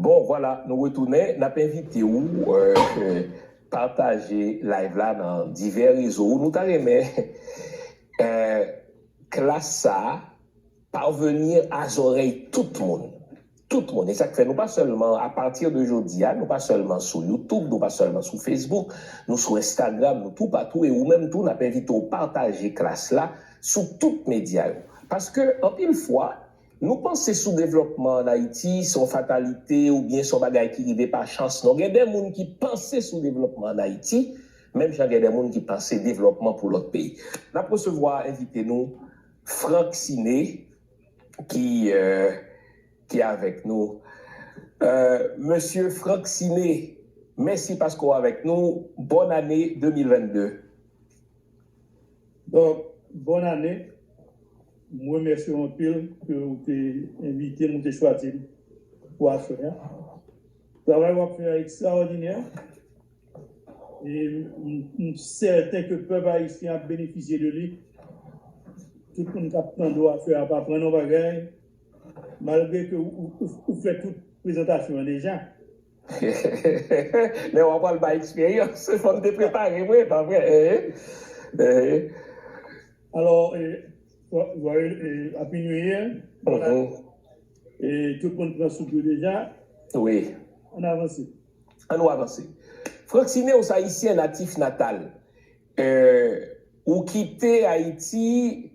Bon vwala nou retounen nap envite ou pataje live la nan divè rezo nou ta renmen klas sa parvenir a zòrèy tout moun tout moun esak fè nou pa sèlman a partir de jodia nou pa sèlman sou youtube nou pa sèlman sou facebook nou sou instagram nou tou patou e ou menm tou nap envite ou pataje klas la sou tout media yo paske anpil fwa Nou panse soudevlòpman an Ayiti se yon fatalite oubyen se yon bagay ki rive pa chans non. Gen de moun ki panse soudevlòpman an Ayiti menm jan gen de moun ki panse devlòpman pou lòt peyi. N ap resevwa envite nou Franck Ciné ki ki avèk nou. Mesye Franck Ciné, mèsi paske w avèk nou. Bòn ane 2022! Doc bonne année m remèsye w anpil ke ou te envite m ou te chwazi m pou aswè a travay wap fè a ekstraòdinè e m sèten ke pèp ayisyen ap benefisye de li tout moun kap tande w aswè a ap aprann yon bagay malgre ke ou fè tout prezantasyon an deja. Lè wa pral bay eksperyans fòm te prepare vre pa vre eeh. Alò ap minuit ye e tout moun pran soup yo deja ann avanse. An nou avanse Francine ou se ayisyen natif natal ou kite ayiti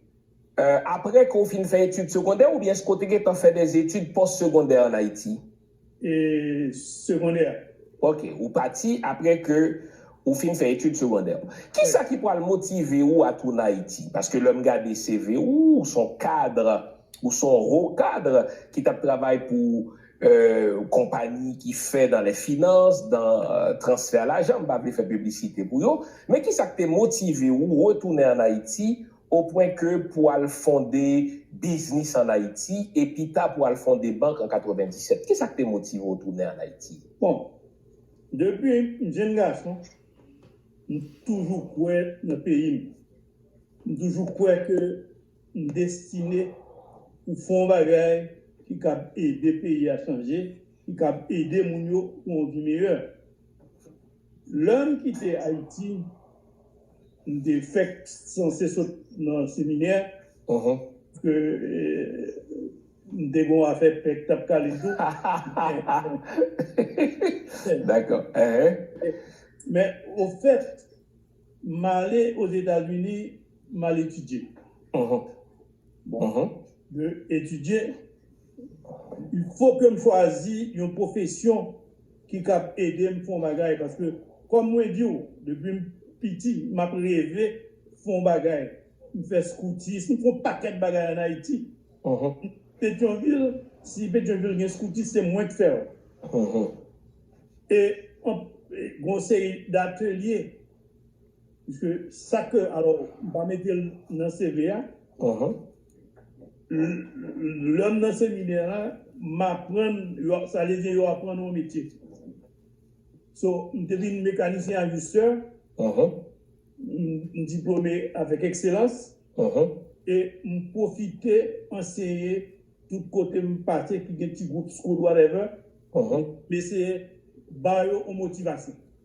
aprè ke ou fin fè etid segondè oubyen èske ou te gentan fè dè etid pòs segondè an ayiti? segondè a. Ok, ou pati apre ke ou fin fè etid segondè ou. Kisa ki pwal motive ou a tounen Ayiti? Paske lè m gade CV ou, ou s on cadre, ou s on haut cadre ki t ap travay pou konpagni ki fè dans les finances, dans transfert lajan, m pa vle fè piblisite pou yo, men kisa k te motive ou retounen an Ayiti O pwen ke pou al fonde biznis an Ayiti e pita pou al fonde bank an 97. Kisa k te motive w tounen an Ayiti? Bon, depi m jenn gason, m toujou kwè nan peyi m. M toujou kwè ke m destine pou fè yon bagay ki kab ede peyi a chanje, ki kab ede moun yo pou yon vi meyè. Lè m kite Ayiti, m te fèk sanse sot nan seminè, paske m te gen yon afè pè ki t ap kale m tou. Men, ofèt, m ale Ozetazini, m al etidye. Bon, de etidye, il fo ke m chwazi yon pwofesyon ki kab ede m fè yon bagay paske kòm mwen di w depi m piti m ap reve fè yon bagay. M fè skoutis, m fè yon pakèt bagay an Ayiti. Petyonvil, si Petyonvil gen skoutis se mwen k fè l. E gen yon seri datelye. Pske sa ke alò m pa mete l nan CV a, lè m nan seminè a m aprann sa vle di yo aprann ou yon metye. So m te vin mekanisyen ajistè, m diplome avèk ekselans e m pwofite anseye tout kote m pase ki gen ti gwoup scout whatever, m eseye ba yo yon motivasyon.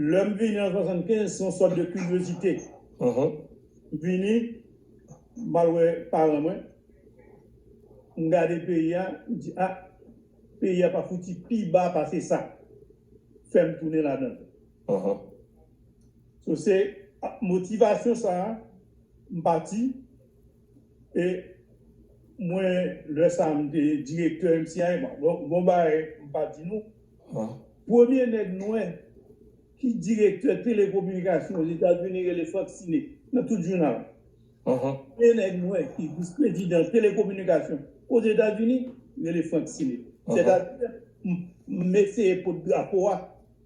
Lè m vini an 75, se yon sòt de kiryozite. M vini, m al wè paran mwen, m gade peyi a, m di a, peyi a pa fouti pi ba pase sa. Fè m tounen ladan l. So se ak motivasyon sa a, m pati. E mwen lè sa m te direktè MCI an. Gon bagay m pa di nou, premye nèg nwè ki direktè telekominikasyon Ozetazini rele Frank Sine nan tout jounal. Premye nèg nwè ki vis prezidan telekominikasyon Ozetazini rele Frank Sine. Sètadi m eseye pot drapo a.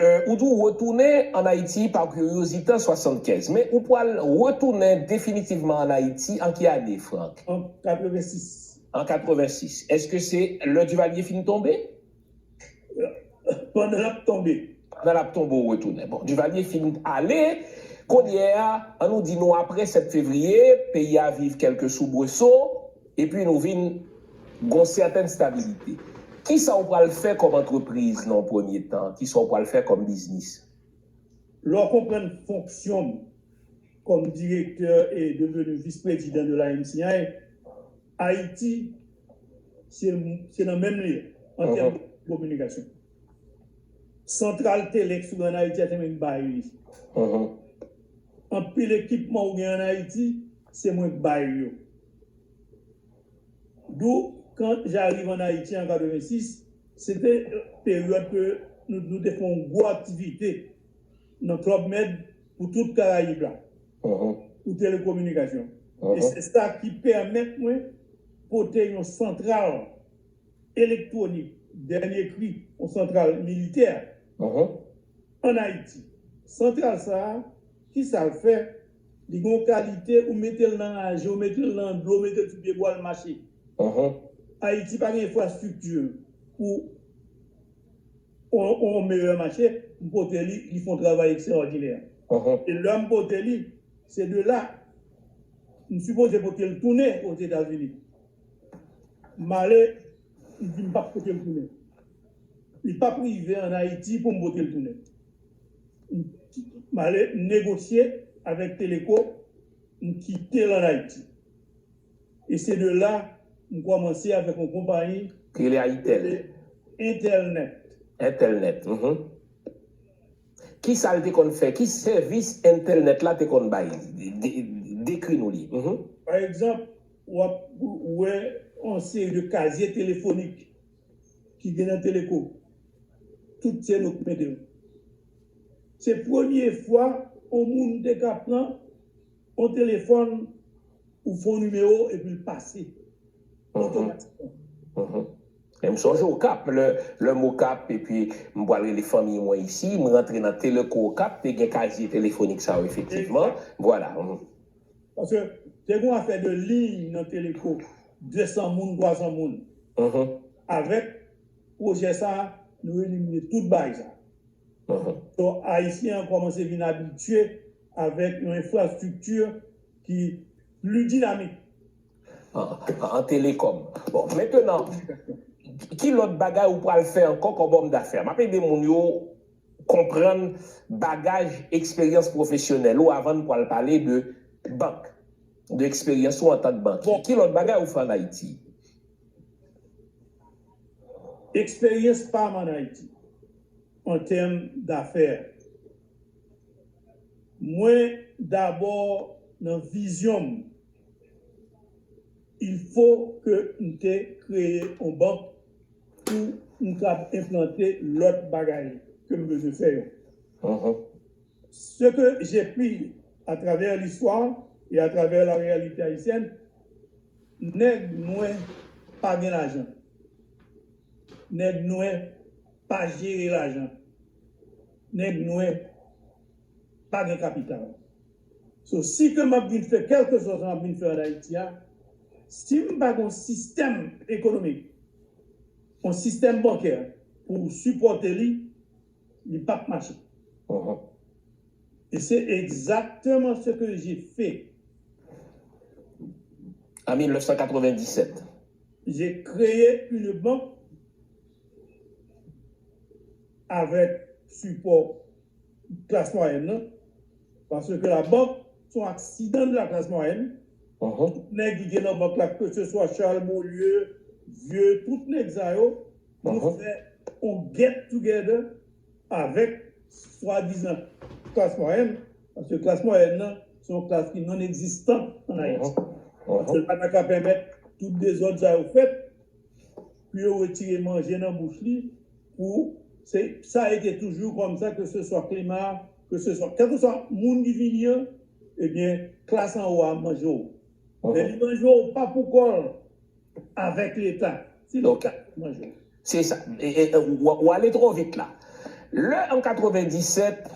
Ou di w retounen ann Ayiti pa kuryozite an 75, men ou pwal retounen definitivman ann Ayiti an ki ane, Frank? An 86. An 86. Èske se lè Duvalier fin tonbe? Pandan l ap tonbe. Pandan l ap tonbe ou retounen. Bon, Duvalier fin ale, kounye a, an nou di nou apre 7 fevriye, peyi a viv kèlke soubreso. Epi nou vin gon sèten stabilite. Kisa ou pral fè kòm antrepriz nan yon premye tan? Kisa ou pral fè kòm biznis? Lè w konprann fonksyon m kòm direktè e devenu vis-prezidan de la MCI, Ayiti se nan menm li an tèm de kominikasyon. Santral Telex ou gen an Ayiti a se mwen ki bay li. Anpil ekipman ou gen an Ayiti, se mwen ki bay yo. Dou, Kan j'arrive en Haïti en 86, se te peryòd ke nou te fè yon gwo aktivite nan Club Med pou tout Karayib la, pou telekominikasyon. E se sa ki pèmèt mwen pote yon santral elektwonik dènye kri, yon santral militè. An Ayiti. Santral sa a, ki sa l fè? Li gen yon kalite, ou mete l nan raje, ou mete l nan dlo, ou mete l sou pye bwa, l mache. Ayiti pa gen enfrastrikti pou yon meyè mache, m pote li, li fè yon travay ekstraòdinè. E lè m pote li, se de la, m sipoze pote l tounen Ozetazini. M ale, m di m p ap pote l tounen. Li pap rive an Ayiti pou m vote l tounen. M ale m negosye avèk Teleco, m kite l an Ayiti. E se de la m kòmanse avèk yon konpayi ki rele Entelnet. Entelnet, m. Ki sa l te konn fè? Ki sèvis Entelnet la te konn bay? Dekri nou li. Pa egzanp, w ap wè yon seri de kazye telefonik. ki gen nan teleko tout se nou k mete yo se premye fwa on moun te ka pran on telefòn ou fon nimewo epi l pase otomatikman e m sonje okap lè m okap epi m pral rele fanmiy mwen isi m rantre nan teleko okap te gen kazye telefonik sa yo efektivman vwala. Paske te gon afè de liy nan teleko 200 moun 300 moun avèk pwojè sa nou elimine tout baay sa so ayisyen an kòmanse vin abitye avèk yon enfrastrikti ki pli dinamik an telekòm bon mentenan ki lòt bagay ou pral fè ankò kòm òm dafè map ede moun yo konprann bagaj eksperyans pwofesyonèl ou avan n pwal pale de bank, de eksperyans ou antank bankye. Ki lòt bagay ou fè an Ayiti? Eksperyans pa m an Ayiti an tèm dafè, mwen dabò nan vizyon m. Il faut ke m te kreye on bank pou m kab enplante lòt bagay ke m bezwen fè yo. Ce que j'ai pu à travers l'histoire et à travers la réalité haïtienne, nèg nwè pa gen lajan. Nèg nwè pa jere lajan. Nèg nwè pa gen kapital. So si ke map vin fè kelkeswa sa map vin fè an Ayiti a, sim pa gen yon sistèm ekonomik, yon sistèm bankè pou sipòte li, li pap mache. E se egzakteman se ke je fe. An 1997. Je kreye une banque avèk sipò klas mwayèn nan paske labank se yon aksidan de la classe moyenne tout nèg ki gen nan bank la ke se swa Charles Beaulieu, Vieux tout nèg sa yo nou fè yon get together avèk swadizan klas mwayèn paske klas mwayèn nan se yon klas ki non egzistan an Ayiti paske l pa ta ka pèmèt tout dezòd sa yo fèt. Pou yo retire manje nan bouch li pou se sa e te toujou kòm sa ke se swa klima ke se swa kèlke swa moun ki vini an ebyen klas an wo a manje w men li manje w pa pou kò l avèk leta se leta ki manje w. Se sa. Ou ale twò vit la. Lè an 97,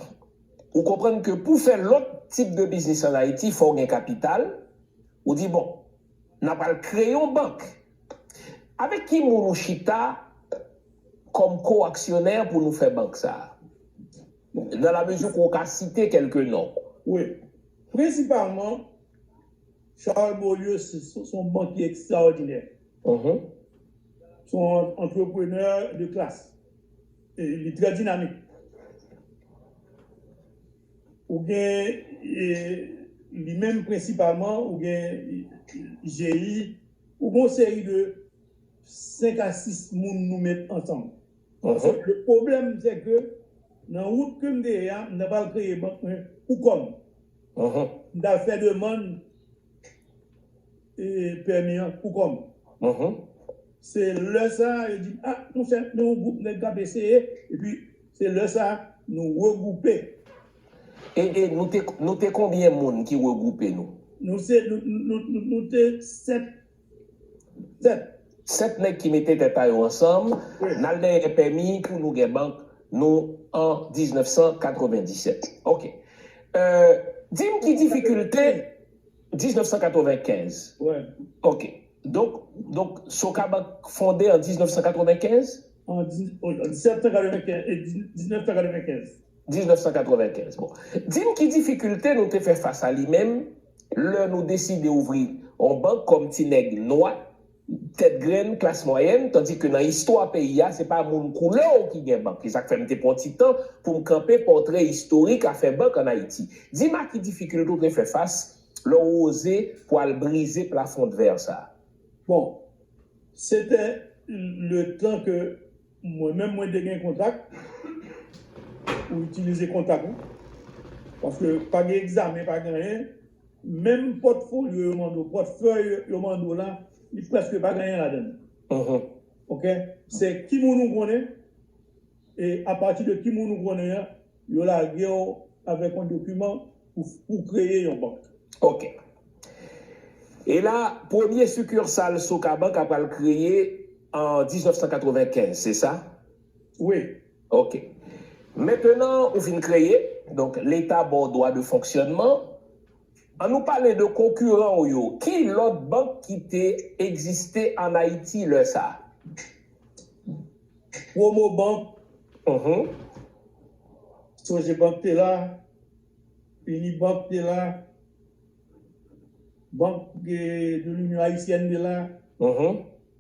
ou konprann ke pou fè lòt tip de biznis an Ayiti fò w gen kapital, ou di bon, nan pral kreye yon bank. Avèk ki moun ou chita kòm ko-aksyonè pou nou fè bank sa a? Nan la mezi ke w ka site kèlke non. Wi. Prensipalman, Charles Beaulieu se yon bankye ekstraòdinè. Se yon antreprenè de klas. E li trè dinamik. Ou gen, li menm prensipalman, ou gen GI. Ou gon seri de 5 a 6 moun nou met ansanm. Sèl ke pwoblèm sè ke nan wout kem te ye a m ta pral kreye bank mwen pou kòm. M tal fè demann pèmi an pou kòm. Se lè sa yo di m a monchè gen yon gwoup nèg kap eseye epi se lè sa nou regwoupe. E e nou te nou te konbyen moun ki regwoupe nou? Nou se nou nou nou nou te sèt sèt. Sèt nèg ki mete tèt pa yo ansanm, n al dèyè pèmi pou nou gen bank nou an 1997. Ok. È di m ki difikilte 1995. Wè. Ok. Donk donk Sokabank fonde an 1995? An 1795 e 1995. 1995. Bon, di m ki difikilte nou te fè fas a li menm lè nou deside ouvri yon bank kòm ti nèg nwa, tèt grenn, klas mwayèn, tandi ke nan istwa peyi a, se pa moun koulè w ki gen bank. Se sa k fè m te pran ti tan pou m kanpe pòtrè istorik afè bank ann Ayiti. Di m a ki difikilte ou te fè fas lè w oze pou al brize plafondvè sa a? Bon, se te letan ke. Mwen menm mwen te gen kontak ou itilize kontak ou paske pa gen egzamen pa gen anyen menm pòtfolyo yo mande w pòtfèy yo mande w la li prèske pa gen anyen ladann ok se ki moun ou konnen e apati de ki moun ou konnen an Yo lage w avèk yon dokiman pou w kreye yon bank. Ok. E la, premye sikirsal Socabank a pral kreye an 1995, se sa? Wi. Ok. Mentenan ou fin kreye, donk Leta ba w dwa de fonksyònman. An nou pale de konkiran w yo. Ki lòt bank ki te egziste an Ayiti lè sa? Promobank. Sogebank te la. Unibank te la. Banque de l'Union Haïtienne te la.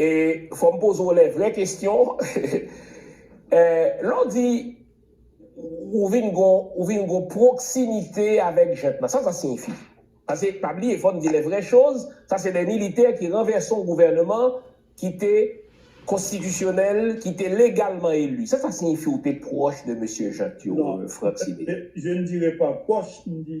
E fòm poze w lè vrè kestyon Lè w di ou vin gon ou vin gon pwoksimite avèk jent lan sa sa siyifi? Pase pa bliye fò n di lè vrè choz sa se lè militè ki ranvèse yon gouvèneman ki te konstitisyonèl ki te legalman eli sa sa siyifi ou te pwòch de mesye jent yo Franck Sidé? Je ne dirai pas pwòch m di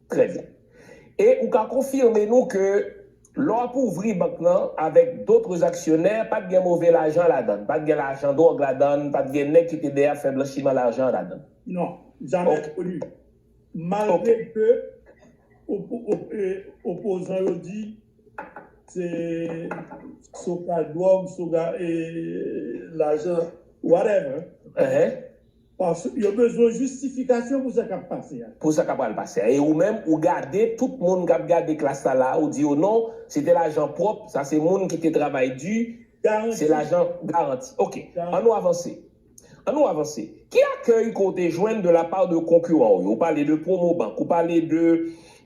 Trè byen. E ou ka konfime nou ke lè w ap ouvri bank lan avèk dotres aksyonè, pa t gen move lajan ladann, pa t gen lajan dwòg ladann, pa t gen nèg ki te dèyè ap fè blanchiman lajan ladann? Non. Jamè koni. Malgre ke opozan yo di se sou ka dwòg, sou ka lajan, whatever, Paske yo bezwen jistifikasyon pou sa k ap pase a. Pou sa k ap pral pase a. E ou menm, ou gade tout moun k ap gade klas la la a, ou di yo non, se te lajan pwòp, sa se moun ki te travay di, se lajan garanti. Ok. An nou avanse. An nou avanse. Ki akèy ke w te jwenn de la pa de konkiran w yo? Ou pale de Promobank, ou pale de,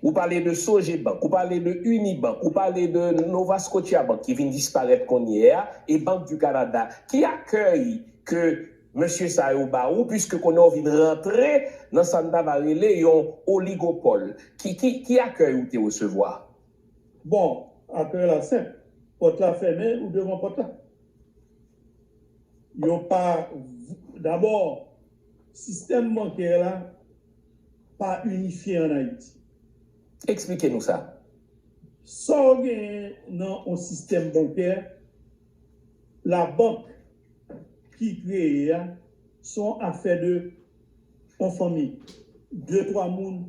ou pale de Sogebank, ou pale de Unibank, ou pale de Novascotiabank ki vin disparèt kounyè a, e Bank di Kanada. Ki akèy ke. Mesye sa yo ba ou piske konnen w vin rantre nan sa n ta va rele yon oligopòl. Ki ki ki akèy ou te resevwa? Bon, akèy la senp. Pòt la fèmen, ou devan pòt la. Yo pa Dabò, sistèm bankè la pa inifye ann Ayiti. Eksplike nou sa. Sa w genyen nan yon sistèm bankè, labank ki kreye a son afè de on fanmi de twa moun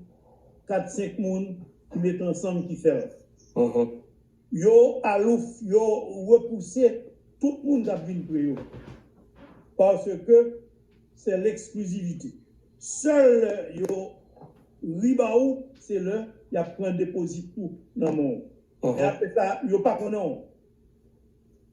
kat senk moun ki mete ansanm ki fèl yo alouf yo repouse tout moun kap vin pre yo paske se lexklizivite sèl lè yo ri ba ou se lè yap pran depozit ou nan men w e apresa yo pa konnen w.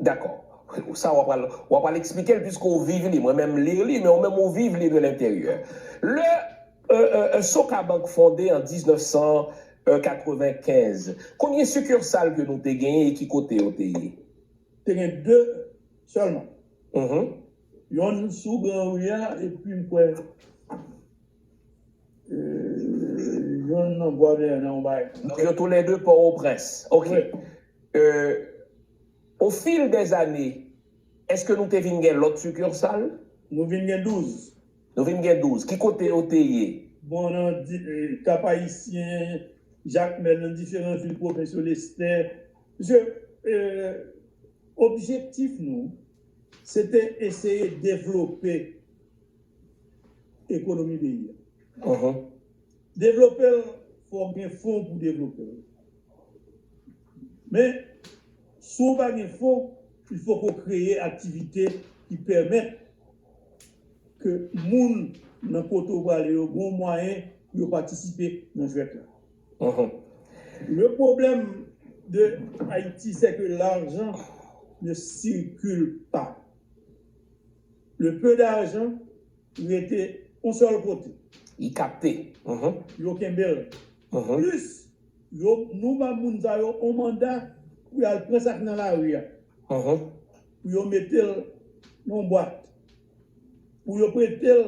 Dakò. Sa w'a pral, w'a pral eksplike l piske w viv li. Mwen menm m li li, men ou menm ou viv li de lenteryè. Lè Socabank fonde an 1995, konbyen sikirsal ke nou te genyen e ki kote yo te ye? Te gen 2 sèlman. Yonn sou gran ri a epi m kwè yonn nan Bwadèyè nan yon bagay konsa. Donk yo toulède Pòwoprens. Ok. Euh Au fil des années Eske nou te vin gen lòt succursale? Nou vin gen 12. Nou vin gen 12. Ki kote yo te ye? Bon nan Kap Ayisyen, Jakmèl, nan diferan vil pwovens yo, Lestè. Pske euh objektif nou se te eseye devlope ekonomi peyi a. Devlope l fò w gen fon pou devlope l. Men, si w pa gen fon, il fòk ou kreye aktivite ki pèmèt ke moun nan kote ou prale yo gen yon mwayen pou yo patisipe nan jwèt la. Le pwoblèm de Ayiti sè ke lajan ne circule pas. Le peu d'argent rete yon sèl kote. Li kapte. Yo kenbe l. Plis Yo nou ba moun sa yo on manda pou yal pran sak nan lari a pou yo metel nan on bwat pou yo pretel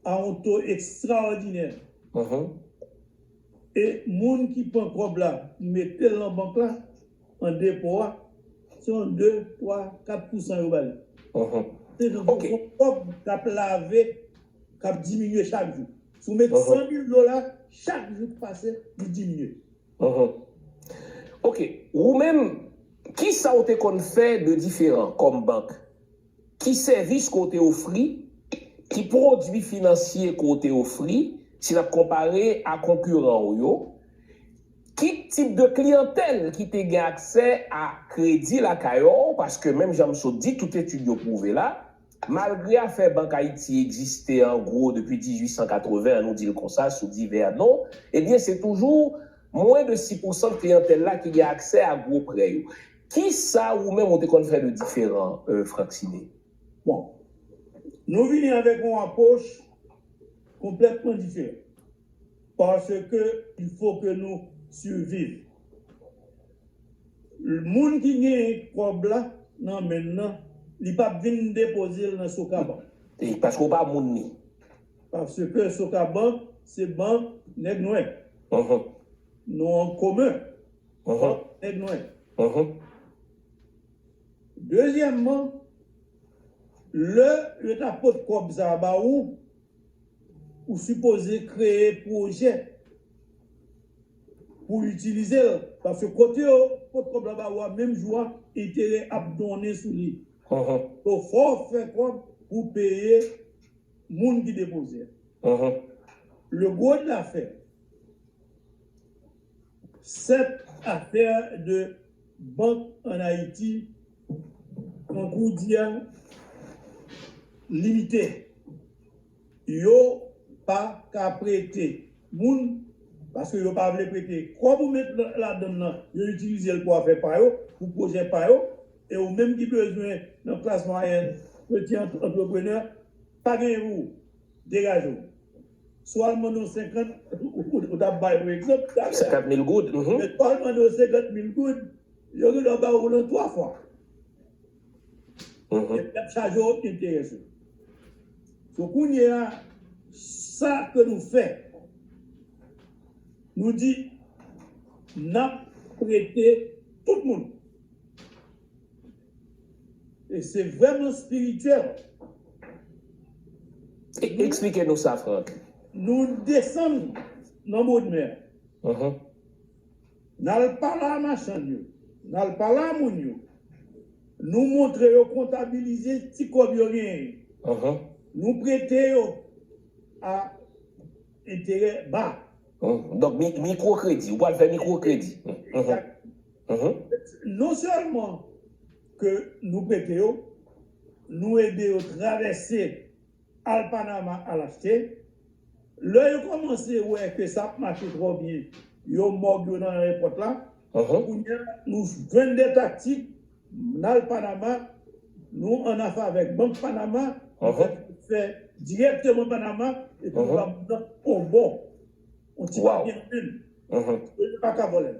a on to ekstraòdinè e moun ki pran kòb la metel nan bank la. An depo a, se yon 2, 3, 4 pousan yo ba li. Se yon fason kòb k ap lave, k ap diminye chak jou. Si w met 100 mil dola, chak jou k pase, li diminye. Ok. Ou menm, kisa w te konn fè de diferan kòm bank? Ki sèvis ke w te ofri? Ki pwodui finansye ke w te ofri, si n ap konpare a konkiran w yo? Ki tip de kliyantèl ki te gen aksè a kredi lakay w? Paske menm jan m sot di, tout etid yo pwouve la, malgre afè Bank Ayiti egziste an gwo depi 1880 an, nou di l konsa, sou divè non, ebyen se toujou mwen de si pousan kliyantèl la ki gen aksè a gwo prè yo. Kisa ou menm ou te konn fè de diferan Franck Sidé? Bon. Nou vini avèk yon apwoch konplètman diferan. Paske il fo ke nou siviv. Moun ki genyen kòb la nan men l nan, li p ap vin depoze l nan Socabank. Paske ou pa moun li. Paske Socabank se bank nèg nwè. Nou an komen. Hop nèg nwè. Dezyèmman, lè yo ta pot kòb sa a ba ou, ou sipoze kreye pwojè pou w itilize l. Paske kote yo pot kòb la ba ou a menm jou a, enterè ap donnen sou li. So fò w fè kòb pou w peye moun ki depoze a. Le gros de l'affaire. 7 afè de bank an Ayiti tankou di a limite. Yo pa ka prete moun paske yo pa vle prete. Kòb ou met ladann nan, yo itilize l pou afè pa yo, pou pwojè pa yo e ou menm ki bezwen nan klas mwayèn, peti antreprenè, pa genyen pou ou. Degaje w. Si w al mande w 50 goud, ou ta bay yon egzanp. 50 mil goud. Men si w al mande w 50 mil goud, yo gen dwa ba w lan 3 fwa. Epi y ap chaje w enterè sou li. So kounye a, sa ke nou fè, nou di n ap prete tout moun. E se vrèman spirityèl. Eksplike nou sa Franck. Nou desann nan bodmè a. N al pale a machann yo. N al pale a moun yo. Nou montre yo kontabilize ti kòb yo genyen yo. Nou prete yo a enterè ba. Donk mikwokredi. Ou pral fè mikwokredi. Non sèlman ke nou prete yo, nou ede yo travèse al Panama al achte. Lè yo kòmanse wè ke sa ap mache twò byen, yo mòg yo nan ayewopòt la. Kounyea nou jwenn de taktik, n al Panama, nou an afe avèk Bank Panama, nou fè transfè dirèkteman Panama epi nou ba moun nan on bon, on ti papye nan men l. Yo pa ka vòlè l.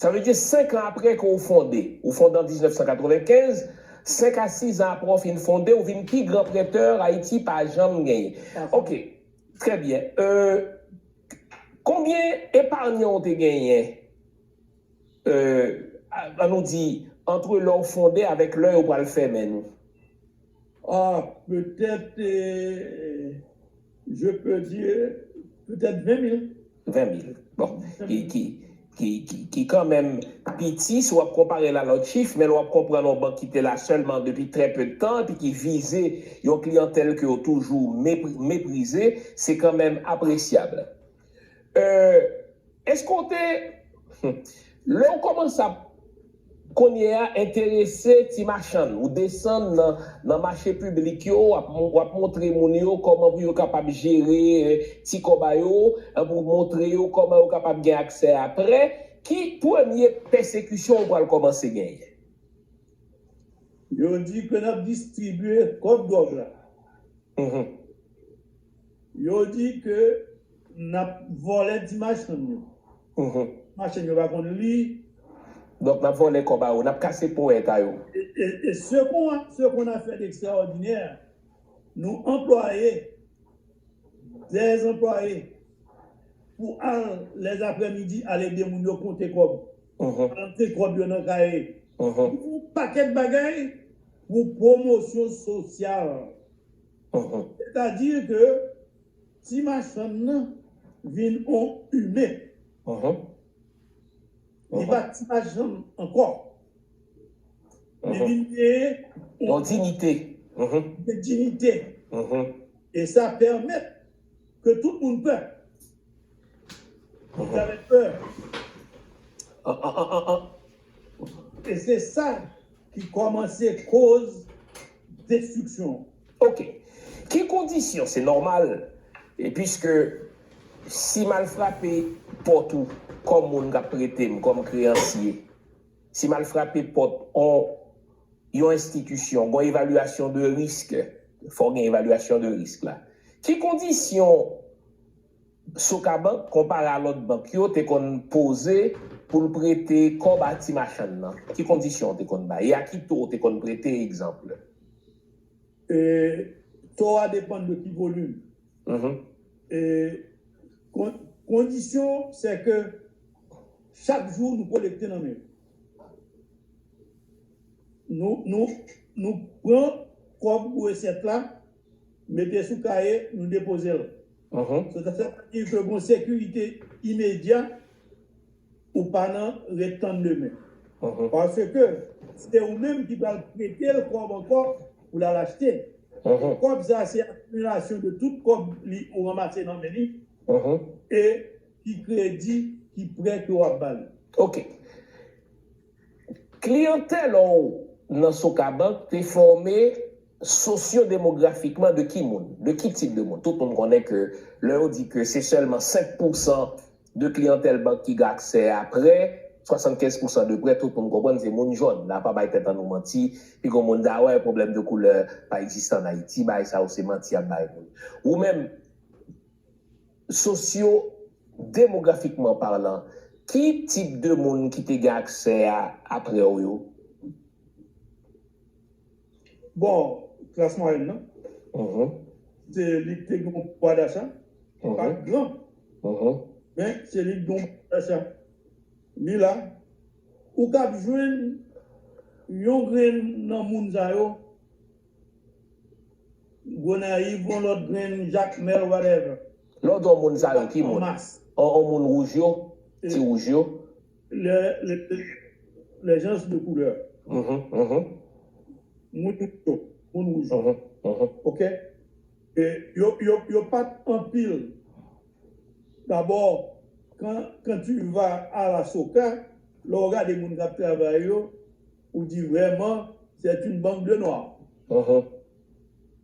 Sa vle di 5 an apre ke w fonde. Ou fonde an 1995, 5 a 6 an apre w fin fonde, ou vin pi gran prètè Ayiti pa janm genyen. Ok, trè byen. Konbyen eparnyan w te genyen, an nou di, antre lè w fonde avèk lè yo pral fèmen nou? Ah, petèt. Je peux dire peut-être 20 mil. 20 mil. Bon. Ki kanmenm piti si w ap konpare l a lòt chif, men lè w ap konprann yon bank ki te la sèlman depi trè peu de tan epi ki vize yon kliyantèl ke yo toujou meprize, se kanmenm apresyab. Euh eske w te Humm lè w kòmanse ap Kounye a enterese ti machann ou desann nan nan mache piblik yo w ap w ap montre moun yo kòman pou yo kapab jere ti kòba yo epi w montre yo kòman yo kapab gen aksè a prè ki premye pèsekisyon ou pral kòmanse genyen? Yo di ke n ap distribye kòb dwòg la. Humm. Yo di ke nap vòlè ti machann yo. Machann yo pa konn li. Donk nap vòlè kòb a yo. Nap kase ponyèt a yo. E se kon a, se kon a fè dekstraòdinè, nou anplwaye dè anplwaye pou al lè zaprè midi al ede moun yo konte kòb. Konte kòb yo nan kaye. Pou pakèt bagay pou pwomosyon sosyal. Sètadi ke ti machann nan vin on imen. Li pa ti machann ankò. Li vin gen on diyite. Li gen diyite. E sa pèmèt. Ke tout moun pè. Li ta mèt pè. An an an an an. E se sa ki kòmanse koz destriksyon an. Ok. Ki kondisyon se nòmal piske si m al frape pòt ou kòm moun k ap trete m kòm kreyansye. Si m al frape pòt on yon enstitisyon, gon evalyasyon de risk, fò gen evalyasyon de risk la. Ki kondisyon Sokabank, konpare a lòt bank yo, te konn poze pou l prete kòb a ti machann nan? Ki kondisyon ou te konn bay? E a ki to ou te konn prete, egzanp? E, To a depann de ki volim. Kondisyon se ke chak jou nou kolekte nan men yo. Nou pran kòb pou resèt la, mete sou kaye, nou depoze l. Sa vle di ke gen yon sekirite imedya. Ou pa nan ret tann demen. Paske se ou menm ki pral prete l kòb ankò pou l al achte. E kòb sa se akimilasyon de tout kòb li ou ranmase nan men li e ki kredi, ki prè ke w ap ba li. Ok. Kliyantèl ou nan Socabank te fòme sosyodemografikman de ki moun? De ki tip de moun? Tout moun konnen ke lè yo di ke se sèlman 5 pousan De kliyantèl bank ki gen aksè a prè, 75 pousan de prè, tout moun konprann se moun jòn. La pa bay tèt an nou manti. Pi gwo moun ta wè, pwoblèm de koulè pa egziste an Ayiti. Bagay sa yo se manti y ap bay moun. Ou menm, sosyo demografikman palan, ki tip de moun ki te gen aksè a aprè w yo? Bon, klas mwayèn nan, se li ki te gen yon pouwa dacha ki pa t gran, men se li ki te gen yon pouwa dacha. Li la, ou ka ap jwenn yon grenn nan moun sa yo, Gonayiv, yon lòt grenn Jakmèl, whatever. Lè w di yon moun sa yo, ki moun? Anmas. Yon moun wouj yo, ti wouj yo, Les gens de couleur, moun yo, moun wouj yo, ok, yo pat anpil. D'abord, quand tu vas à la soca, lè ou gade moun k'ap travay yo, ou di vraiment c'est une bande de noirs.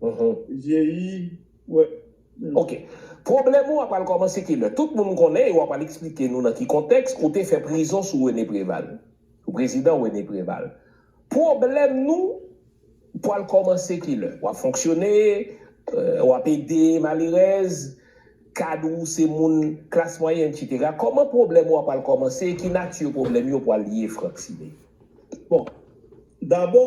Vyeyi wè menm. Ok. Pwoblèm ou a pral kòmanse kilè? Tout moun konnen e w a pral eksplike nou nan ki kontèks ou te fè prizon sou René Préval. Sou prezidan René Préval. Pwoblèm nou pral kòmanse kilè? W ap fonksyone, w ap ede malerèz, kad ou se moun klas mwayen etsetera. Kòman pwoblèm ou a pral kòmanse e ki nati pwoblèm yo pral ye Franck Simé? Bon. Dabò.